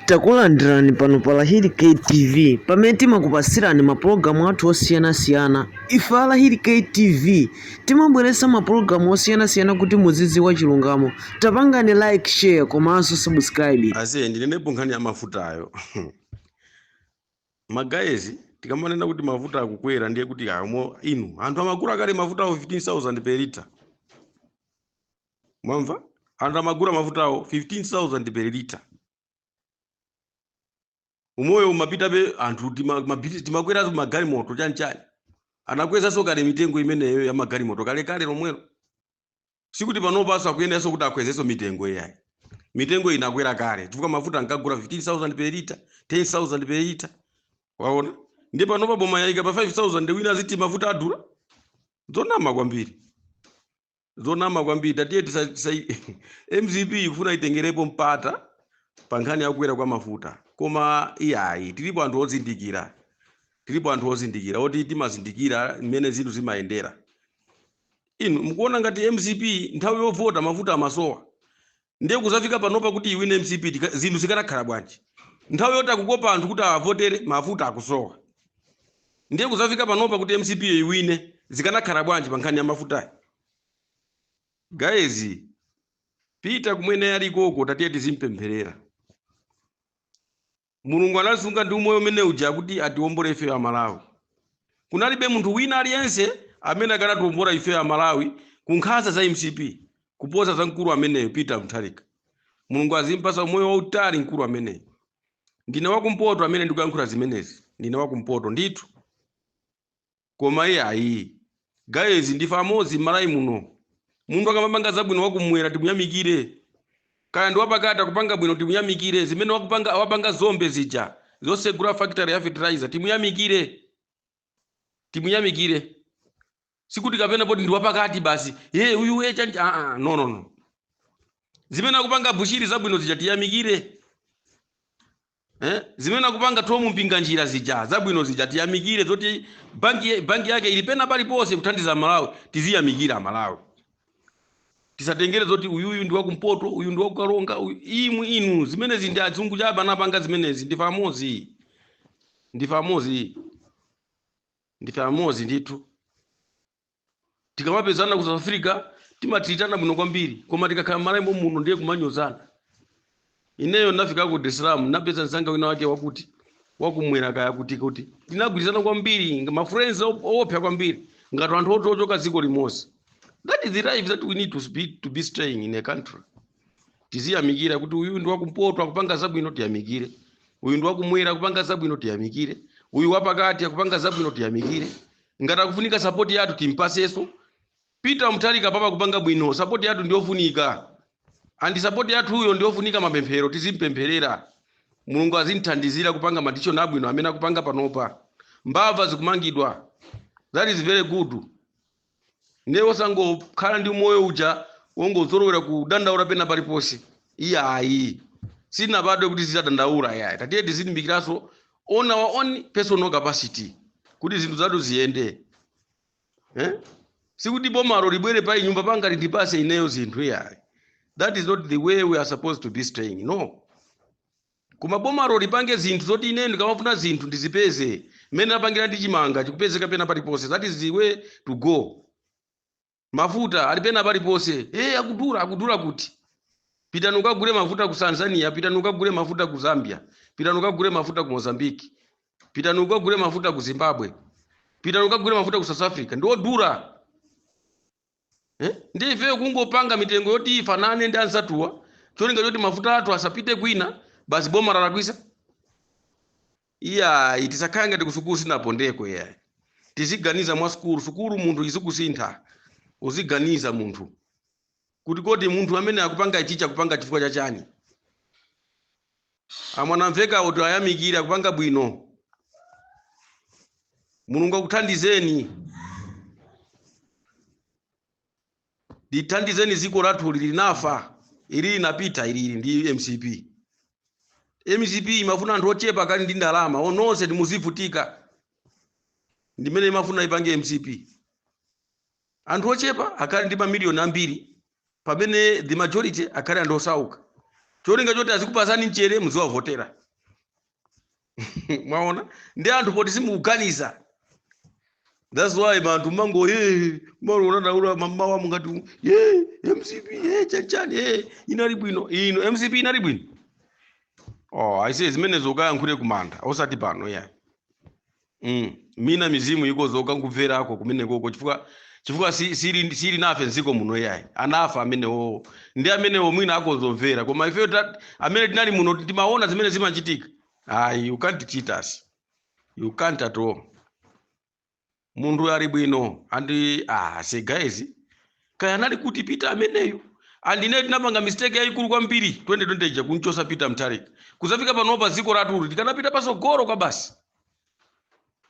Takulandirani pano pa Lahiri K TV pamene timakupatsirani mapulogalamu athu osiyanasiyana. Ife a Lahiri K TV timabweretsa mapulogalamu osiyanasiyana kuti muzidziwa chilungamo. Tapangani like, share komanso subscribe. ase ndinenepo nkhani ya mafutayo magayezi tikamanena kuti mafuta akukwera ndiye kuti iyayi inu anthu amagula kale mafutawo 15000 per lita mwamva anthu amagula mafutawo 15000 per liter umoyo umapitabe anthu tima- mabiti- timakweraso magalimoto chanchani anakwezaso kale mitengo imeneyo ya magalimoto kalekale lomwelo sikuti panopaso akuyeneraso kuti akwezeso mitengo iyayi mitengo inakwera kale chifukwa mafuta ankagula 15000 per liter 10000 per liter waona ndiye panopa boma yaika pa 5000 wina aziti mafuta adula zonama kwambiri zonama kwambiri tatiye tisa, tisa, mcp ikufuna itengerepo mpata pa nkhani ya kukwera kwa mafuta koma iyayi tilipo anthu ozindikira tilipo anthu ozindikira oti timazindikira mmene zinthu zimayendera inu mukuona ngati mcp nthawi yovota mafuta amasowa ndiye kuzafika panopa kuti iwine mcp tika- zinthu zikanakhala bwanji nthawi yoti akukopa anthu kuti awavotere mafuta akusowa ndiye kuzafika panopa kuti mcp yo iwine zikanakhala bwanji pa nkhani ya mafutayi guys Peter kumene alikoko tatiye tizimpempherera mulungu anamsunga ndi umoyo umene uja kuti atiwombole ifeyo amalawi kunalibe munthu wina aliyense amene akanatiwombola ifeyo amalawi ku nkhanza za mcp kuposa mkulu ameneyo peter mutharika mulungu azimpasa umoyo wautali mkulu ameneyo ndine wakumpoto amene ndikuyankhula zimenezi ndine wakumpoto ndithu koma iyayi guys ndife amodzi m'Malawi muno munthu akamapanga zabwino wakumwera timuyamikire kaya ndi wapakati akupanga bwino timuyamikire zimene akupanga a Napoleon Dzombe zija zosegula factory ya fertilizer timuyamikire timuyamikire sikuti kapena poti ndi wapakati basi ye uyu ye chanji ah, ah, no no no zimene akupanga bushiri zabwino zija tiyamikire Eh, zimene akupanga Tom Mpinganjira zija zabwino zija tiyamikire zoti banki, banki yake ili pena paliponse kuthandiza aMalawi tiziyamikira aMalawi tisatengere zoti uyuyu ndi wakumpoto uyu ndi wakukaronga uyu- imwe inu zimenezi ndi azungu chabe anapanga zimenezi ndife amodzi ndife amodzi ndife amodzi ndithu tikamapezana ku south africa timayitana bwino kwambiri koma tikakhala malawi momuno ndiye kumanyozana ineyo ndinafika ku dar es salaam ndinapeza mzanga wina wake wakuti wakumwera kaya kuti kuti tinagwirizana kwambiri ngati mafriends op- oopsa kwambiri ngati anthu oti ochoka dziko limodzi that is the life that we need to be, to be staying in a country tiziyamikira kuti uyu ndi wakumpoto akupanga zabwino tiyamikire uyu ndi wakumwera akupanga zabwino tiyamikire uyu wapakati akupanga zabwino tiyamikire Ngati akufunika support yathu timpatsenso. Peter Mutharika papa akupanga bwino support yathu ndiyofunika. And support yathuyo ndiyofunika mapemphero tizimpempherera. Mulungu azimthandizira kupanga ma decision abwino amene akupanga panopa. Mbava zikumangidwa. That is very good. Ndiye osangokhala ndi moyo uja ongozolowera kudandaula pena paliponse. Iyayi. Sitinabadwe kuti tizadandaula yayi. Tatiye tizilimbikiranso on our own personal capacity kuti zinthu zathu ziyende eh? sikuti bomalo libwere panyumba panga lindipatse ineyo zinthu iyayi that is not the way we are supposed to be staying no koma bomalo lipange zinthu zoti ineyo ndikamafuna zinthu ndizipeze mmene lapangira ndi chimanga chikupezeka pena paliponse that is the way to go Mafuta ali pena paliponse. Hey, akudula akudula kuti? Pitani mukagule mafuta ku Tanzania, pitani mukagule mafuta ku Zambia, pitani mukagule mafuta ku Mozambique, pitani mukagule mafuta ku Zimbabwe, pitani mukagule mafuta ku South Africa. Ndi odula. Eh? Ndiye ifeyo kungopanga mitengo yoti ifanane ndi anzathuwa. Cholinga choti mafuta athu asapite kwina, basi boma lalakwisa. Iyayi tisakhale ngati kusukulu sitinapondeko iyayi. Tiziganiza mwa sukulu, sukulu munthu izikusintha. Uziganiza munthu kuti kodi munthu amene akupanga ichichi akupanga chifukwa cha chani? A Mwanamvekhawo tiwayamikire akupanga bwino. Mulungu akuthandizeni. lithandizeni dziko lathuli linafa ili linapita ilili ndi mcp mcp imafuna anthu ochepa akhale ndi ndalama nonsenu muzivutika ndimene imafuna ipange mcp anthu ochepa akhale ndi mamiliyoni ambiri pamene the majority akhale anthu osauka cholinga choti azikupatsani mchere muziwavotera mwaona ndi anthu poti simukuganiza that's why anthu mumangoyamba kudandaula mamawa mungoti u- ye mcp ye chanchani ye inali bwino ino mcp inali bwino oh aise zimenezo ukayankhule kumanda osati pano iyayi mm. mwina mizimu ikadzuka nkumverako kumenekoko chifukwa chifukwa si- sili sili nafe m'dziko muno yayi anafa amenewo ndi amenewo mwina akhoza kumvera koma ifeyo ta- amene tinali muno timaona zimene zimachitika ayi you can't cheat us you can't at all munthu ali bwino and I say guys kaya anali kuti peter ameneyo and tinapanga mistake yayikulu kwambiri 2020 ija kumchotsa peter Mutharika kudzafika panopa dziko lathu tikanapita patsogolo kwabasi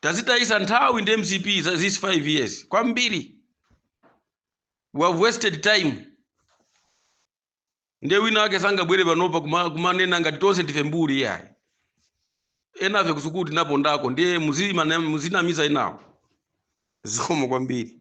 Tadzitayitsa nthawi ndi mcp these 5 years kwambiri we have wasted time ndiye wina wake sangabwere panopa kuma- kumanena ngati tonse ndife mbuli yayi enafe kusukulu tinapondako ndiye muzimana- muzinamiza enawo zikomo kwambiri